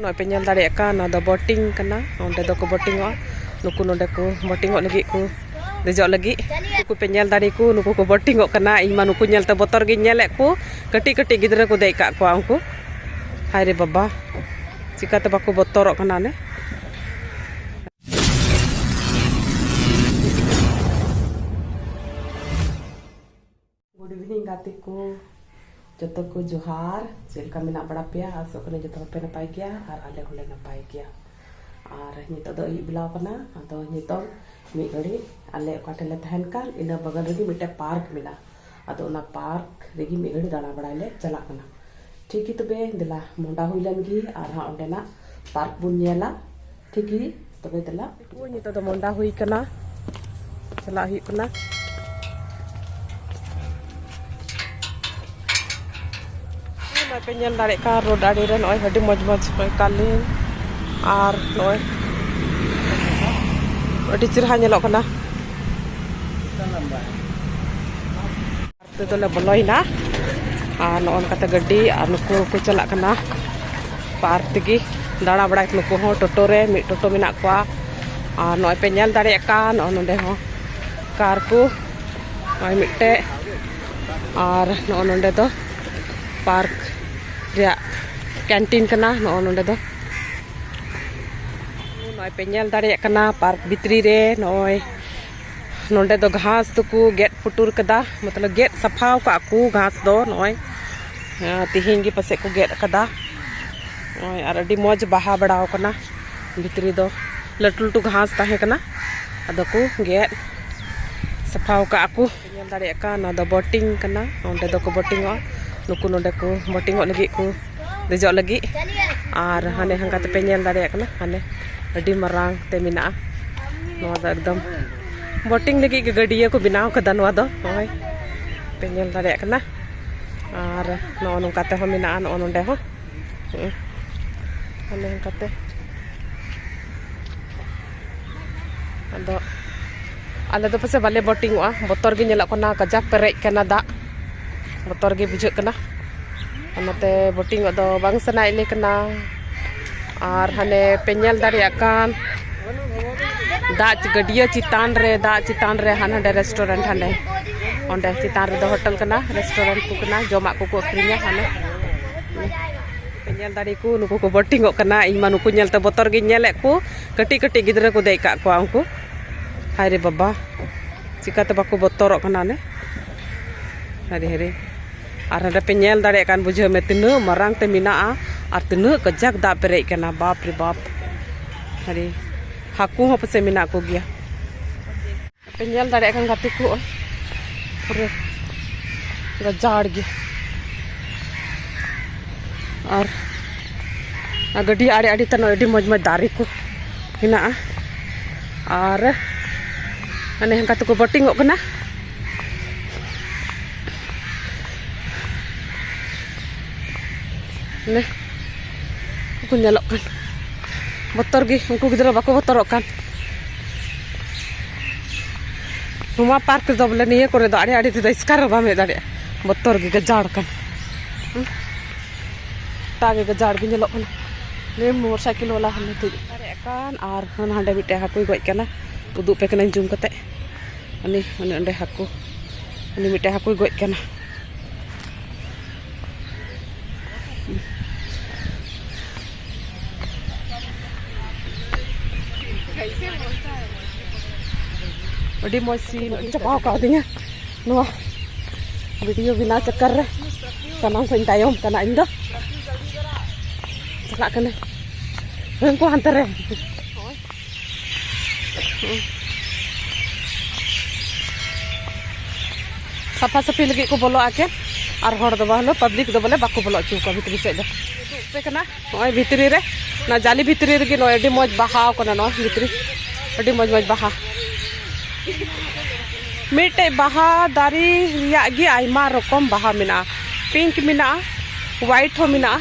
ᱱᱚᱜᱼᱚᱭ ᱯᱮ ᱧᱮᱞ ᱫᱟᱲᱮᱭᱟᱜ ᱠᱟᱱ ᱱᱚᱣᱟ ᱫᱚ ᱵᱳᱴᱤᱝ ᱠᱟᱱᱟ ᱱᱚᱸᱰᱮ ᱫᱚᱠᱚ ᱵᱳᱴᱤᱝᱚᱜᱼᱟ ᱱᱩᱠᱩ ᱱᱚᱸᱰᱮ ᱠᱚ ᱵᱳᱴᱤᱝᱚᱜ ᱞᱟᱹᱜᱤᱫ ᱠᱚ ᱫᱮᱡᱚᱜ ᱞᱟᱹᱜᱤᱫ ᱱᱩᱠᱩ ᱯᱮ ᱧᱮᱞ ᱫᱟᱲᱮ ᱠᱚ ᱱᱩᱠᱩ ᱠᱚ ᱵᱳᱴᱤᱝᱚᱜ ᱠᱟᱱᱟ ᱤᱧ ᱢᱟ ᱱᱩᱠᱩ ᱧᱮᱞᱛᱮ ᱵᱚᱛᱚᱨ ᱜᱤᱧ ᱧᱮᱞᱮᱫ ᱠᱚ ᱠᱟᱹᱴᱤᱡ ᱠᱟᱹᱴᱤᱡ ᱜᱤᱫᱽᱨᱟᱹ ᱠᱚ ᱫᱮᱡ ᱠᱟᱜ ᱠᱚᱣᱟ ᱩᱱᱠᱩ ᱦᱟᱭ ᱨᱮ ᱵᱟᱵᱟ ᱪᱤᱠᱟᱛᱮ ᱵᱟᱠᱚ ᱵᱚᱛᱚᱨᱚᱜ ᱠᱟᱱᱟ ᱚᱱᱮ ᱜᱩᱰ ᱤᱵᱷᱤᱱᱤᱝ ᱜᱟᱛᱮ ᱠᱚ ᱡᱚᱛᱚ ᱠᱚ ᱡᱚᱦᱟᱨ ᱪᱮᱫ ᱞᱮᱠᱟ ᱢᱮᱱᱟᱜ ᱵᱟᱲᱟ ᱯᱮᱭᱟ ᱟᱥᱚᱜ ᱠᱟᱹᱱᱟᱹᱧ ᱡᱚᱛᱚ ᱦᱚᱲ ᱯᱮ ᱱᱟᱯᱟᱭ ᱜᱮᱭᱟ ᱟᱨ ᱟᱞᱮ ᱦᱚᱸᱞᱮ ᱱᱟᱯᱟᱭ ᱜᱮᱭᱟ ᱟᱨ ᱱᱤᱛᱚᱜ ᱫᱚ ᱟᱹᱭᱩᱵ ᱵᱮᱞᱟ ᱠᱟᱱᱟ ᱟᱫᱚ ᱱᱤᱛᱚᱜ ᱢᱤᱫ ᱜᱷᱟᱹᱲᱤᱡ ᱟᱞᱮ ᱚᱠᱟ ᱴᱷᱮᱱ ᱞᱮ ᱛᱟᱦᱮᱱ ᱠᱟᱱ ᱤᱱᱟᱹ ᱵᱟᱜᱟᱱ ᱨᱮᱜᱮ ᱢᱤᱫᱴᱮᱱ ᱯᱟᱨᱠ ᱢᱮᱱᱟᱜᱼᱟ ᱟᱫᱚ ᱚᱱᱟ ᱯᱟᱨᱠ ᱨᱮᱜᱮ ᱢᱤᱫ ᱜᱷᱟᱹᱲᱤᱡ ᱫᱟᱬᱟ ᱵᱟᱲᱟᱭ ᱞᱮ ᱪᱟᱞᱟᱜ ᱠᱟᱱᱟ ᱴᱷᱤᱠ ᱜᱮ ᱛᱚᱵᱮ ᱫᱮᱞᱟ ᱢᱚᱦᱰᱟ ᱦᱩᱭ ᱞᱮᱱ ᱜᱮ ᱟᱨ ᱦᱟᱸᱜ ᱚᱸᱰᱮᱱᱟᱜ ᱯᱟᱨᱠ ᱵᱚᱱ ᱧᱮᱞᱟ ᱴᱷᱤᱠ ᱜᱮ ᱛᱚᱵᱮ ᱫᱮᱞᱟ ᱱᱤᱛᱚᱜ ᱫᱚ ᱢᱚᱱᱰᱟ ᱦᱩᱭ ᱠᱟᱱᱟ ᱪᱟᱞᱟᱜ ᱦᱩᱭᱩᱜ ᱠᱟᱱᱟ ᱯᱮ ᱧᱮᱞ ᱫᱟᱲᱮᱭᱟᱜ ᱠᱟᱱ ᱨᱳᱰ ᱟᱲᱮ ᱨᱮ ᱱᱚᱜᱼᱚᱭ ᱟᱹᱰᱤ ᱢᱚᱡᱽ ᱢᱚᱡᱽ ᱱᱚᱜᱼᱚᱭ ᱠᱟᱞᱤᱝ ᱟᱨ ᱱᱚᱜᱼᱚᱭ ᱟᱹᱰᱤ ᱪᱮᱨᱦᱟ ᱧᱮᱞᱚᱜ ᱠᱟᱱᱟ ᱛᱮᱫᱚ ᱞᱮ ᱵᱚᱞᱚᱭᱮᱱᱟ ᱟᱨ ᱱᱚᱜᱼᱚ ᱱᱚᱝᱠᱟᱛᱮ ᱜᱟᱹᱰᱤ ᱟᱨ ᱱᱩᱠᱩ ᱦᱚᱸᱠᱚ ᱪᱟᱞᱟᱜ ᱠᱟᱱᱟ ᱯᱟᱨᱠ ᱛᱮᱜᱮ ᱫᱟᱬᱟ ᱵᱟᱲᱟᱭ ᱱᱩᱠᱩ ᱦᱚᱸ ᱴᱳᱴᱳ ᱨᱮ ᱢᱤᱫ ᱴᱳᱴᱳ ᱢᱮᱱᱟᱜ ᱠᱚᱣᱟ ᱟᱨ ᱱᱚᱜᱼᱚᱭ ᱯᱮ ᱧᱮᱞ ᱫᱟᱲᱮᱭᱟᱜ ᱠᱟᱱ ᱱᱚᱜᱼᱚ ᱱᱚᱸᱰᱮ ᱦᱚᱸ ᱠᱟᱨ ᱠᱚ ᱱᱚᱜᱼᱚᱭ ᱢᱤᱫᱴᱮᱡ ᱟᱨ ᱱᱚᱜᱼᱚ ᱱᱚᱸᱰᱮ ᱫᱚ ᱯᱟᱨᱠ ᱨᱮᱭᱟᱜ ᱠᱮᱱᱴᱤᱱ ᱠᱟᱱᱟ ᱱᱚᱜᱼᱚ ᱱᱚᱸᱰᱮ ᱫᱚ ᱱᱚᱜᱼᱚᱭ ᱯᱮ ᱧᱮᱞ ᱫᱟᱲᱮᱭᱟᱜ ᱠᱟᱱᱟ ᱯᱟᱨᱠ ᱵᱷᱤᱛᱨᱤ ᱨᱮ ᱱᱚᱜᱼᱚᱭ ᱱᱚᱰᱮ ᱫᱚ ᱜᱷᱟᱥ ᱫᱚᱠᱚ ᱜᱮᱫ ᱯᱩᱴᱩᱨ ᱠᱟᱫᱟ ᱢᱚᱛᱞᱚᱵ ᱜᱮᱫ ᱥᱟᱯᱷᱟ ᱠᱟᱜ ᱠᱚ ᱜᱷᱟᱥ ᱫᱚ ᱱᱚᱜᱼᱚᱭ ᱛᱮᱦᱮᱧ ᱜᱮ ᱯᱟᱥᱮᱡ ᱠᱚ ᱜᱮᱫ ᱠᱟᱫᱟ ᱱᱚᱜᱼᱚᱭ ᱟᱨ ᱟᱹᱰᱤ ᱢᱚᱡᱽ ᱵᱟᱦᱟ ᱵᱟᱲᱟ ᱠᱟᱱᱟ ᱵᱷᱤᱛᱨᱤ ᱫᱚ ᱞᱟᱹᱴᱩ ᱞᱟᱹᱴᱩ ᱜᱷᱟᱥ ᱛᱟᱦᱮᱸ ᱠᱟᱱᱟ ᱟᱫᱚ ᱠᱚ ᱜᱮᱫ ᱥᱟᱯᱷᱟ ᱠᱟᱜ ᱠᱚ ᱧᱮᱞ ᱫᱟᱲᱮᱭᱟᱜ ᱠᱟᱱ ᱱᱚᱣᱟ ᱫᱚ ᱵᱳᱴᱤᱝ ᱠᱟᱱᱟ ᱱᱚᱸᱰᱮ ᱫᱚᱠᱚ ᱵᱳᱴᱤᱝ ᱚᱜᱼᱟ ᱱᱩᱠᱩ ᱱᱚᱸᱰᱮ ᱠᱚ ᱵᱳᱴᱤᱝ ᱚᱜ ᱞᱟᱹᱜᱤᱫ ᱠᱚ ᱫᱮᱡᱚᱜ ᱞᱟᱹᱜᱤᱫ ᱟᱨ ᱦᱟᱱᱮ ᱦᱟᱱᱠᱟ ᱛᱮᱯᱮ ᱧᱮᱞ ᱫᱟᱲᱮᱭᱟᱜ ᱠᱟᱱᱟ ᱦᱟᱱᱮ ᱟᱹᱰᱤ ᱢᱟᱨᱟᱝ ᱛᱮ ᱢᱮᱱᱟᱜᱼᱟ ᱱᱚᱣᱟ ᱫᱚ ᱮᱠᱫᱚᱢ ᱵᱳᱴᱤᱝ ᱞᱟᱹᱜᱤᱫ ᱜᱮ ᱜᱟᱹᱰᱭᱟᱹ ᱠᱚ ᱵᱮᱱᱟᱣ ᱠᱟᱫᱟ ᱱᱚᱣᱟ ᱫᱚ ᱱᱚᱜᱼᱚᱭ ᱯᱮ ᱧᱮᱞ ᱫᱟᱲᱮᱭᱟᱜ ᱠᱟᱱᱟ ᱟᱨ ᱱᱚᱜᱼᱚ ᱱᱚᱝᱠᱟ ᱛᱮᱦᱚᱸ ᱢᱮᱱᱟᱜᱼᱟ ᱱᱚᱜᱼᱚ ᱱᱚᱸᱰᱮ ᱦᱚᱸ ᱦᱟᱱᱮ ᱦᱟᱱᱠᱟᱛᱮ ᱟᱫᱚ ᱟᱞᱮ ᱫᱚ ᱯᱟᱥᱮ ᱵᱟᱞᱮ ᱵᱳᱴᱤᱝᱚᱜᱼᱟ ᱵᱚᱛᱚᱨ ᱜᱮ ᱧᱮᱞᱚᱜ ᱠᱟᱱᱟ ᱠᱟᱡᱟᱠ ᱯᱮᱨᱮᱡ ᱠᱟᱱᱟ ᱫᱟᱜ ᱵᱚᱛᱚᱨ ᱜᱮ ᱵᱩᱡᱷᱟᱹᱜ ᱠᱟᱱᱟ ᱚᱱᱟᱛᱮ ᱵᱳᱴᱤᱝᱚᱜ ᱫᱚ ᱵᱟᱝ ᱥᱟᱱᱟᱭᱮᱫ ᱞᱮ ᱠᱟᱱᱟ ᱟᱨ ᱦᱟᱱᱮ ᱯᱮ ᱧᱮᱞ ᱫᱟᱲᱮᱭᱟᱜ ᱠᱟᱱ ᱫᱟᱜ ᱜᱟᱹᱰᱭᱟᱹ ᱪᱮᱛᱟᱱ ᱨᱮ ᱫᱟᱜ ᱪᱮᱛᱟᱱ ᱨᱮ ᱦᱟᱱᱰᱮ ᱨᱮᱥᱴᱩᱨᱮᱱᱴ ᱦᱟᱱᱰᱮ ᱚᱸᱰᱮ ᱪᱮᱛᱟᱱ ᱨᱮᱫᱚ ᱦᱳᱴᱮᱞ ᱠᱟᱱᱟ ᱨᱮᱥᱴᱩᱨᱮᱱᱴ ᱠᱚ ᱠᱟᱱᱟ ᱡᱚᱢᱟᱜ ᱠᱚᱠᱚ ᱟᱹᱠᱷᱨᱤᱧᱟ ᱦᱟᱱᱮ ᱯᱮ ᱧᱮᱞ ᱫᱟᱲᱮ ᱠᱚ ᱱᱩᱠᱩ ᱠᱚ ᱵᱳᱴᱤᱝᱚᱜ ᱠᱟᱱᱟ ᱤᱧ ᱢᱟ ᱱᱩᱠᱩ ᱧᱮᱞᱛᱮ ᱵᱚᱛᱚᱨ ᱜᱤᱧ ᱧᱮᱞᱮᱫ ᱠᱚ ᱠᱟᱹᱴᱤᱡ ᱠᱟᱹᱴᱤᱡ ᱜᱤᱫᱽᱨᱟᱹ ᱠᱚ ᱫᱮᱡ ᱠᱟᱜ ᱠᱚᱣᱟ ᱩᱱᱠᱩ ᱦᱟᱭ ᱨᱮ ᱵᱟᱵᱟ ᱪᱤᱠᱟᱛᱮ ᱵᱟᱠᱚ ᱵᱚᱛᱚᱨᱚᱜ ᱠᱟᱱᱟ ᱚᱱᱮ ᱦᱟᱭᱨᱮ ᱦᱟᱭᱨᱮ ᱟᱨ ᱦᱟᱸᱰᱮ ᱯᱮ ᱧᱮᱞ ᱫᱟᱲᱮᱭᱟᱜ ᱠᱟᱱ ᱵᱩᱡᱷᱟᱹᱣ ᱢᱮ ᱛᱤᱱᱟᱹᱜ ᱢᱟᱨᱟᱝ ᱛᱮ ᱢᱮᱱᱟᱜᱼᱟ ᱟᱨ ᱛᱤᱱᱟᱹᱜ ᱠᱟᱡᱟᱠ ᱫᱟᱜ ᱯᱮᱨᱮᱡ ᱠᱟᱱᱟ ᱵᱟᱯ ᱨᱮ ᱵᱟᱯ ᱦᱟᱭᱨᱮ ᱦᱟᱹᱠᱩ ᱦᱚᱸ ᱯᱟᱥᱮᱡ ᱢᱮᱱᱟᱜ ᱠᱚᱜᱮᱭᱟ ᱟᱯᱮ ᱧᱮᱞ ᱫᱟᱲᱮᱭᱟᱜ ᱠᱟᱱ ᱜᱟᱛᱮ ᱠᱚ ᱯᱩᱨᱟᱹ ᱜᱟᱡᱟᱲ ᱜᱮ ᱟᱨ ᱜᱟᱹᱰᱤ ᱟᱲᱮ ᱟᱲᱮ ᱛᱮ ᱟᱹᱰᱤ ᱢᱚᱡᱽ ᱢᱚᱡᱽ ᱫᱟᱨᱮ ᱠᱚ ᱦᱮᱱᱟᱜᱼᱟ ᱟᱨ ᱢᱟᱱᱮ ᱦᱟᱱᱠᱟ ᱛᱮᱠᱚ ᱵᱳᱴᱤᱝᱚᱜ ᱠᱟᱱᱟ ᱢᱟᱱᱮ ᱠᱚ ᱧᱮᱞᱚᱜ ᱠᱟᱱ ᱵᱚᱛᱚᱨ ᱜᱮ ᱩᱱᱠᱩ ᱜᱤᱫᱽᱨᱟᱹ ᱵᱟᱠᱚ ᱵᱚᱛᱚᱨᱚᱜ ᱠᱟᱱ ᱱᱚᱣᱟ ᱯᱟᱨᱠ ᱨᱮᱫᱚ ᱵᱚᱞᱮ ᱱᱤᱭᱟᱹ ᱠᱚᱨᱮ ᱫᱚ ᱟᱹᱰᱤ ᱟᱹᱰᱤ ᱛᱮᱫᱚ ᱮᱥᱠᱟᱨ ᱦᱚᱸ ᱵᱟᱢ ᱦᱮᱡ ᱫᱟᱲᱮᱭᱟᱜᱼᱟ ᱵᱚᱛᱚᱨ ᱜᱮ ᱜᱟᱡᱟᱲ ᱠᱟᱱ ᱜᱚᱴᱟ ᱜᱮ ᱜᱟᱡᱟᱲ ᱜᱮ ᱧᱮᱞᱚᱜ ᱠᱟᱱᱟ ᱱᱤᱭᱟᱹ ᱢᱚᱴᱚᱨ ᱥᱟᱭᱠᱮᱞ ᱵᱟᱞᱟ ᱦᱚᱸ ᱱᱤᱛᱚᱜ ᱫᱟᱲᱮᱭᱟᱜ ᱠᱟᱱ ᱟᱨ ᱦᱟᱸᱰᱮ ᱢᱤᱫᱴᱮᱡ ᱦᱟᱹᱠᱩᱭ ᱜᱚᱡ ᱠᱟᱱᱟ ᱩᱫᱩᱜ ᱯᱮ ᱠᱟᱹᱱᱟᱹᱧ ᱡᱩᱢ ᱠᱟᱛᱮ ᱩᱱᱤ ᱩᱱᱤ ᱚᱸᱰᱮ ᱦᱟᱹᱠᱩ ᱩᱱᱤ ᱢᱤᱫᱴᱮᱡ ᱦᱟᱹᱠᱩᱭ ᱜᱚᱡ ᱠᱟᱱᱟ ᱟᱹᱰᱤ ᱢᱚᱡᱽ ᱥᱤᱱ ᱟᱹᱰᱤ ᱪᱟᱯᱟᱣ ᱠᱟᱣᱫᱤᱧᱟ ᱱᱚᱣᱟ ᱵᱷᱤᱰᱤᱭᱳ ᱵᱮᱱᱟᱣ ᱪᱟᱠᱟᱨ ᱨᱮ ᱥᱟᱱᱟᱢ ᱠᱷᱚᱱ ᱛᱟᱭᱚᱢ ᱠᱟᱱᱟ ᱤᱧ ᱫᱚ ᱪᱟᱞᱟᱜ ᱠᱟᱹᱱᱟᱹᱧ ᱦᱟᱹᱱᱠᱩ ᱦᱟᱱᱛᱮ ᱨᱮ ᱥᱟᱯᱷᱟ ᱥᱟᱹᱯᱷᱤ ᱞᱟᱹᱜᱤᱫ ᱠᱚ ᱵᱚᱞᱚᱜᱼᱟ ᱠᱮ ᱟᱨ ᱦᱚᱲ ᱫᱚ ᱵᱟᱝ ᱯᱟᱵᱽᱞᱤᱠ ᱫᱚ ᱵᱚᱞᱮ ᱵᱟᱠᱚ ᱵᱚᱞᱚ ᱦᱚᱪᱚ ᱠᱚᱣᱟ ᱵᱷᱤᱛᱨᱤ ᱥᱮᱫ ᱫᱚ ᱩᱯᱮ ᱠᱟᱱᱟ ᱱᱚᱜᱼᱚᱭ ᱵᱷᱤᱛᱨᱤ ᱨᱮ ᱚᱱᱟ ᱡᱟᱞᱤ ᱵᱷᱤᱛᱨᱤ ᱨᱮᱜᱮ ᱱᱚᱜᱼᱚᱭ ᱟᱹᱰᱤ ᱢᱚᱡᱽ ᱵᱟᱦᱟᱣ ᱠᱟᱱᱟ ᱱᱚᱣᱟ ᱵᱷᱤᱛᱨᱤ ᱟᱹᱰᱤ ᱢᱚᱡᱽ ᱢᱚᱡᱽ ᱵᱟᱦᱟ ᱢᱤᱫᱴᱮᱡ ᱵᱟᱦᱟ ᱫᱟᱨᱮ ᱨᱮᱭᱟᱜ ᱜᱮ ᱟᱭᱢᱟ ᱨᱚᱠᱚᱢ ᱵᱟᱦᱟ ᱢᱮᱱᱟᱜᱼᱟ ᱯᱤᱝᱠ ᱢᱮᱱᱟᱜᱼᱟ ᱦᱳᱣᱟᱭᱤᱴ ᱦᱚᱸ ᱢᱮᱱᱟᱜᱼᱟ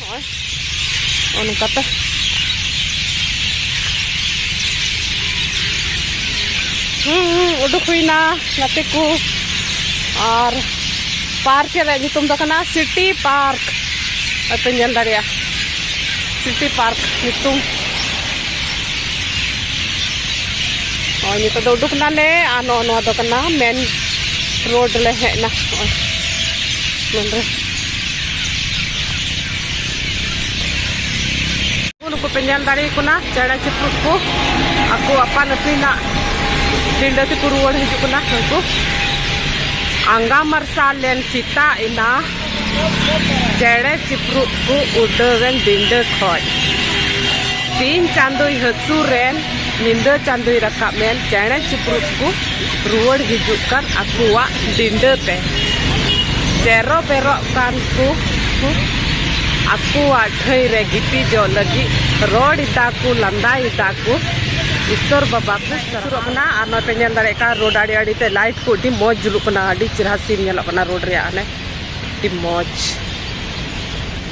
ᱱᱚᱜᱼᱚᱭ ᱱᱚᱜᱼᱚ ᱱᱚᱝᱠᱟᱛᱮ ᱩᱰᱩᱠ ᱦᱩᱭᱱᱟ ᱜᱟᱛᱮ ᱠᱚ ᱟᱨ ᱯᱟᱨᱠ ᱨᱮᱭᱟᱜ ᱧᱩᱛᱩᱢ ᱫᱚ ᱠᱟᱱᱟ ᱥᱤᱴᱤ ᱯᱟᱨᱠ ᱟᱯᱮ ᱧᱮᱞ ᱫᱟᱲᱮᱭᱟᱜᱼᱟ ᱥᱤᱴᱤ ᱯᱟᱨᱠ ᱧᱩᱛᱩᱢ ᱱᱚᱜᱼᱚᱭ ᱱᱤᱛᱚᱜ ᱫᱚ ᱩᱰᱩᱠ ᱱᱟᱞᱮ ᱟᱨ ᱱᱚᱜᱼᱚ ᱱᱚᱣᱟ ᱫᱚ ᱠᱟᱱᱟ ᱢᱮᱱ ᱨᱳᱰ ᱞᱮ ᱦᱮᱡ ᱮᱱᱟ ᱱᱚᱜᱼᱚᱭ ᱢᱮᱱ ᱨᱳᱰ ᱱᱩᱠᱩ ᱯᱮ ᱧᱮᱞ ᱫᱟᱲᱮ ᱠᱟᱱᱟ ᱪᱮᱬᱮ ᱪᱤᱯᱨᱩᱫ ᱠᱚ ᱟᱠᱚ ᱟᱯᱟᱱ ᱟᱹᱯᱤᱱᱟᱜ ᱯᱤᱸᱰᱟᱹ ᱛᱮᱠᱚ ᱨᱩᱣᱟᱹᱲ ᱦᱤᱡᱩᱜ ᱠᱟᱱᱟ ᱩᱱᱠᱩ ᱟᱸᱜᱟ ᱢᱟᱨᱥᱟᱞ ᱞᱮᱱ ᱥᱮᱛᱟᱜ ᱮᱱᱟ ᱪᱮᱬᱮ ᱪᱤᱯᱨᱩᱫ ᱠᱚ ᱩᱰᱟᱹᱣᱮᱱ ᱰᱤᱸᱰᱟᱹ ᱠᱷᱚᱡ ᱥᱤᱧ ᱪᱟᱸᱫᱚᱭ ᱦᱟᱹᱥᱩᱨᱮᱱ ᱧᱤᱫᱟᱹ ᱪᱟᱸᱫᱚᱭ ᱨᱟᱠᱟᱵ ᱮᱱ ᱪᱮᱬᱮ ᱪᱤᱯᱨᱩᱫ ᱠᱚ ᱨᱩᱣᱟᱹᱲ ᱦᱤᱡᱩᱜ ᱠᱟᱱ ᱟᱠᱚᱣᱟᱜ ᱰᱤᱸᱰᱟᱹ ᱛᱮ᱾ ᱪᱮᱨᱚ ᱵᱮᱨᱚᱜ ᱠᱟᱱ ᱠᱚ ᱠᱚ ᱟᱠᱚᱣᱟᱜ ᱴᱷᱟᱹᱭ ᱨᱮ ᱜᱤᱛᱤᱡᱚᱜ ᱞᱟᱹᱜᱤᱫ ᱨᱚᱲ ᱮᱫᱟ ᱠᱚ ᱞᱟᱸᱫᱟ ᱮᱫᱟ ᱠᱚ ᱤᱥᱚᱨ ᱵᱟᱵᱟ ᱠᱚ ᱥᱟᱨᱦᱟᱣ᱾ ᱠᱟᱱᱟ ᱟᱨ ᱱᱚᱜᱼᱚᱭ ᱯᱮ ᱧᱮᱞ ᱫᱟᱲᱮᱭᱟᱜ ᱠᱟᱱᱟ ᱨᱳᱰ ᱟᱲᱮ ᱟᱲᱮ ᱛᱮ ᱞᱟᱭᱤᱴ ᱠᱚ ᱟᱹᱰᱤ ᱢᱚᱡᱽ ᱡᱩᱞᱩᱜ ᱠᱟᱱᱟ ᱟᱹᱰᱤ ᱪᱮᱨᱦᱟ ᱥᱤᱱ ᱧᱮᱞᱚᱜ ᱠᱟᱱᱟ ᱨᱳᱰ ᱨᱮᱭᱟᱜ ᱦᱟᱱᱮ ᱟᱹᱰᱤ ᱢᱚᱡᱽ᱾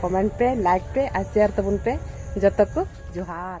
ᱠᱚᱢᱮᱱᱴ ᱯᱮ ᱞᱟᱭᱤᱠ ᱯᱮ ᱟᱨ ᱥᱮᱭᱟᱨ ᱛᱟᱵᱚᱱ ᱯᱮ ᱡᱚᱛᱚ ᱠᱚ ᱡᱚᱦᱟᱨ